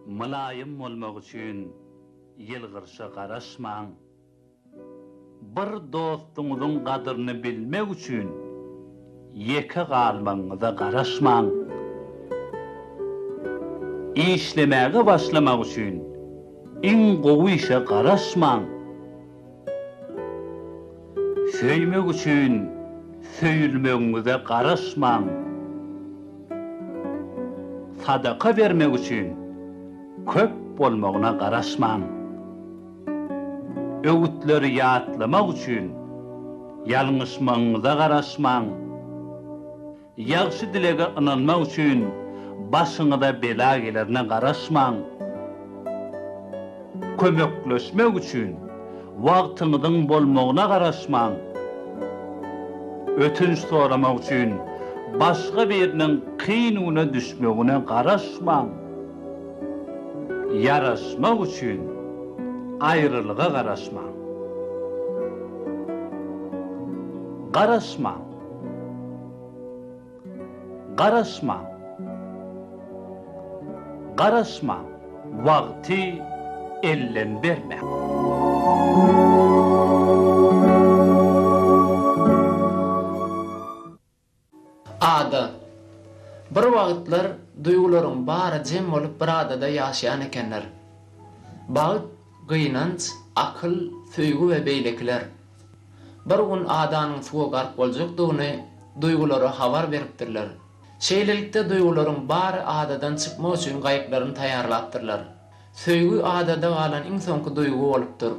Mylaýym bolmak üçin ýylgyrşa garaşmaň. Bir dostuňyzyň gadyryny bilmek üçin ýeke galmagyňyza garaşmaň. Işlemäge başlamak üçin iň gowy işe garaşmaň. Söýmek üçin söýülmegiňize garaşmaň. Sadaka bermek üçin köp bolmagyna garaşmaň. Öwütleri ýatlamak üçin ýalňyşmagyňyza garaşmaň. Ýagşy dilege ynanmak üçin başyňyza bela gelerine garaşmaň. Kömekleşmek üçin wagtyňyzyň bolmagyna garaşmaň. Ötünç soramak üçin başga biriniň kyn güne düşmegine garaşmaň. Ýaraşmak üçin aýrylyga garaşmaň. Garaşmaň. Garaşmaň. Garaşmaň. Wagty elden bermäň. Ada. Bir wagtlar duýgularyň bary jem bolup bir adada ýaşaýan ekenler. Bagt, gynanç, akyl, söýgi we beýlekiler. Bir gün adanyň suwa gark boljakdygyny duýgulara habar beripdirler. Şeýlelikde duýgularyň bary adadan çykmak üçin gaýyklaryny taýýarlapdyrlar. Söýgi adada galan iň soňky duýgy bolupdyr.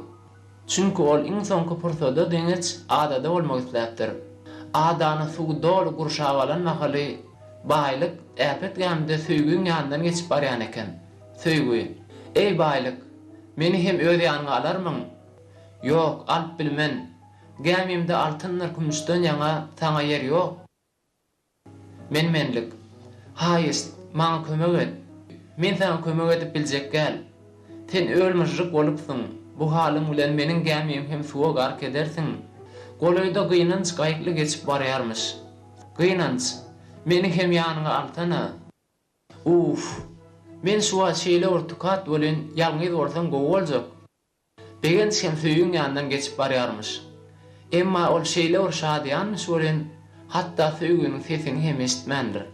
Çünki ol iň soňky pursada geňeç adada bolmak isläpdir. Adany suw doly gurşap alan mahaly Baýlyk äpet gämide Söýgiň ýanyndan geçip barýan eken. Söýgi, Eý Baýlyk, meni hem öz ýanyňa alarmyň? Ýok, alyp bilmen. Gämimde altyndyr kümüşden ýaňa saňa ýer ýok. Men-menlik. Haýyşt, maňa kömek et. Men saňa kömek edip biljek däl. Sen öl-myžžyk bolupsyň. Bu halyň bilen meniň gämim hem suwa gark edersiň. Golaýda Gynanç gaýykly geçip barýarmyş. Gynanç, meni hem ýanyňa alsana. Uff. Men şu wagt şeýle bir tukat welin, ýalňyz bolsam gowy boljak. Begenç hem Söýgiň ýanyndan geçip barýarmyş. Emma ol şeýle bir şadyýanmyş welin, hatda Söýginiň sesini hem eşitmändir.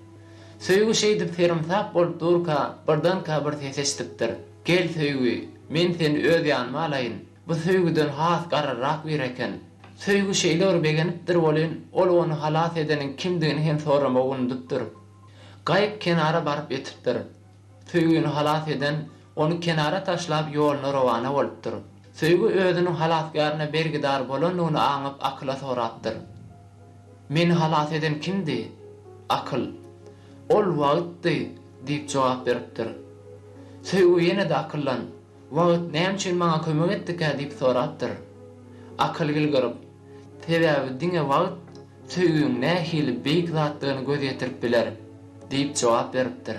Söýgi şeýdip serumsak bolup durka, birdenkä bir ses eşidipdir. Gel, Söýgi, men seni öz ýanyma alaýyn. Bu Söýgüden has garryrak biri eken. Söýgi şeýle bir begenipdir welin, ol ony halas edeniň kimdigini hem soramagy unudypdyr. Gaýyp kenara baryp ýetipdir. Söýgini halas eden ony kenara taşlap ýoluna rowana bolupdyr. Söýgi özüniň halasgäryne bergidar bolandygyny aňyp akyla sorapdyr. Meni halas eden kimdi? Akyl, Ol wagtdy diýip jogap beripdir. Söýgi ýene-de akyldan. Wagt näme üçin maňa kömek etdikä diýip sorapdyr. Akylgül gyryp, Sebäbi diňe wagt söýgiň nähili beýik zatdygyny göz ýetirip biler, diýip jogap beripdir.